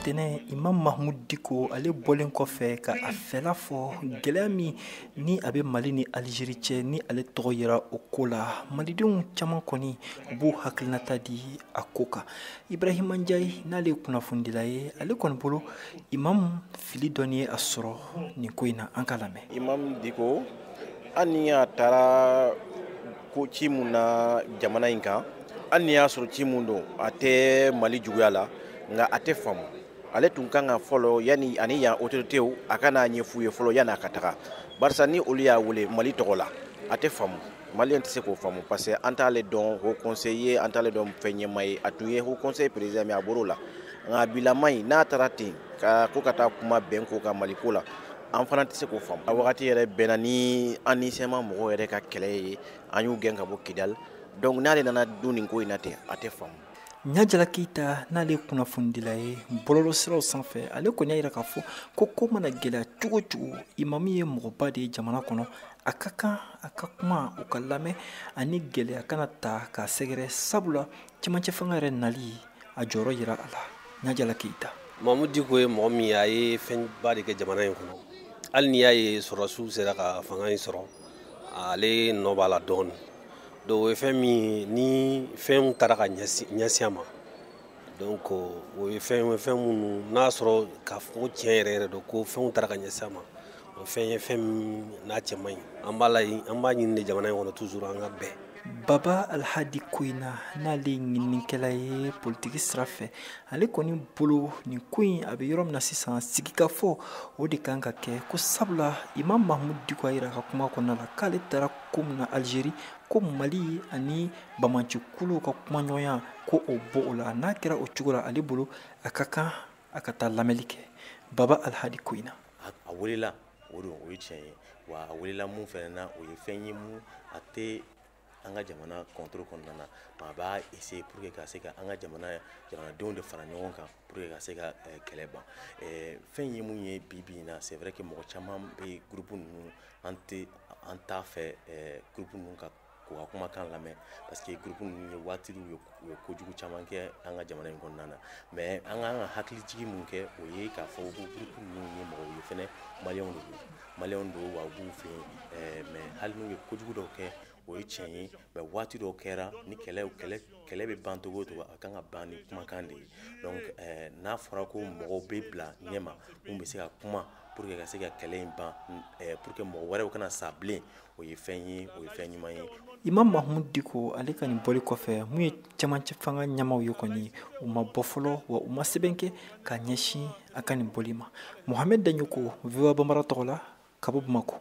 tɛnɛ imam mahmud diko ale bɔlen kɔfɛ ka a fɛla fɔ gɛlɛya min ni a bɛ mali ni alizeri cɛ ni ale tɔgɔ yera o ko la malidenw caman kɔni u b'u hakilinata di a ko kan ibrahima njayi n'ale ye kunnafonidila ye ale kɔni bolo imam fili dɔɔni ye a sɔrɔ nin ko in na an k'a lamɛn imam diko hali ni a taara ko ci mun na jamana in kan hali n'i y'a sɔrɔ ci mun don a tɛ mali juguya la nka a tɛ faamu ale tun kan ka fɔlɔ yani ani yan otoritew a ka n'a ɲɛf'u ye fɔlɔ yani a ka taga barisa ni olu y'a wele mali tɔgɔ la a tɛ faamu maliyɛn tɛ se k'o faamu parce que an t'ale dɔn haut conseil ye an t'ale dɔn fɛn ɲɛmaa ye a tun ye haut conseil président mais a bɔr'o la nka a bilama in n'a taara ten ko ka taa kuma bɛn ko ka mali ko la an fana tɛ se k'o faamu a wagati yɛrɛ bɛnna ni an ni cma mɔgɔw yɛrɛ ka kɛlɛ ye an y'u gɛn ka bɔ kidali donc n'ale nana don nin ko in na ten a tɛ faamu ɲajala keyita n'ale ye kunnafonidila ye bɔlɔlɔ siraw sanfɛ ale kɔni y'a yira k'a fɔ ko ko mana gɛlɛya cogo cogo imamu ye mɔgɔba de ye jamana kɔnɔ a ka kan a ka kuma u k'a lamɛn ani gɛlɛya kana taa k'a sɛgɛrɛ sabula cɛmancɛ fanga yɛrɛ nali a jɔyɔrɔ yera a la ɲajala keyita mahmud diko ye mɔgɔ min ye a ye fɛnba de kɛ jamana in kɔnɔ hali n'i y'a ye sɔrɔdasiw sera ka fanga in sɔrɔ ale nɔ b'a la dɔɔni donc o ye fɛn min ye ni fɛnw taara ka ɲɛsin a ma donc o ye fɛn ye fɛn minnu n'a sɔrɔ k'a fɔ ko tiɲɛ yɛrɛ yɛrɛ don ko fɛnw taara ka ɲɛsin a ma o fɛn ye fɛn min n'a cɛ man ɲi an b'a la an b'a ɲini de jamana in kɔnɔ toujours an ka bɛn baba alhadi ko in na n'ale ye ɲininikɛla ye politiki sira fɛ ale kɔni bolo nin ko in a bɛ yɔrɔ min na sisan sigikafɔ o de kan ka kɛ ko sabula imam mahmud diko a yira a ka kuma kɔnɔna la k'ale taara ko min na algérie ko mali ani banbaancikuluw ka kumaɲɔgɔnya ko o b'o la n'a kɛra o cogo la ale bolo a ka kan a ka taa lamɛnli kɛ baba alhadi ko in na a welela o don o ye tiɲɛ ye wa a welela mun fɛnɛ na o ye fɛn ye mun a tɛ an ka jamana contrôle kɔnɔna na a b'a essayer pour que ka se ka an ka jamana jamanadenw de fara ɲɔgɔn kan pour que ka se ka eh, kɛlɛ ban eh, fɛn ye mun ye bi bi in na c'est vrai que mɔgɔ caman bɛ groupe ninnu an tɛ an t'a fɛ eh, groupe ninnu ka k'u ka kumakan lamɛn parce que groupe ninnu ye waati u ye kojugu caman kɛ an ka jamana in kɔnɔna na mais an ka kan ka hakilijigi mun kɛ o ye k'a fɔ ko groupe ninnu ye mɔgɔw ye fɛnɛ maliyɛnw de don maliyɛnw don wa u b'u fɛ yen eh, mais hali n'u ye kojugu dɔw kɛ o ye tiɲɛ ye mais waati dɔw kɛra ni kɛlɛ kɛlɛ kɛlɛ bɛ ban cogo cogo a kan ka ban ni kumakan de ye donc eh, n'a fɔra ko mɔgɔw bɛ bila ɲɛ maa mun bɛ se ka kuma pour que ka se ka kɛlɛ in ban eh, pour que mɔgɔ wɛrɛw kana sa bilen o ye fɛn ye o ye fɛn ɲuman ye imam mahamudu diko ale ka nin bɔli kɔfɛ mun ye cɛmancɛ fanga ɲɛmaaw ye kɔni u ma bɔ fɔlɔ wa u ma sɛbɛn kɛ ka ɲɛsin a ka nin bɔli ma mohamɛd daɲoko voa banbara tɔgɔ la ka bɔ bamakɔ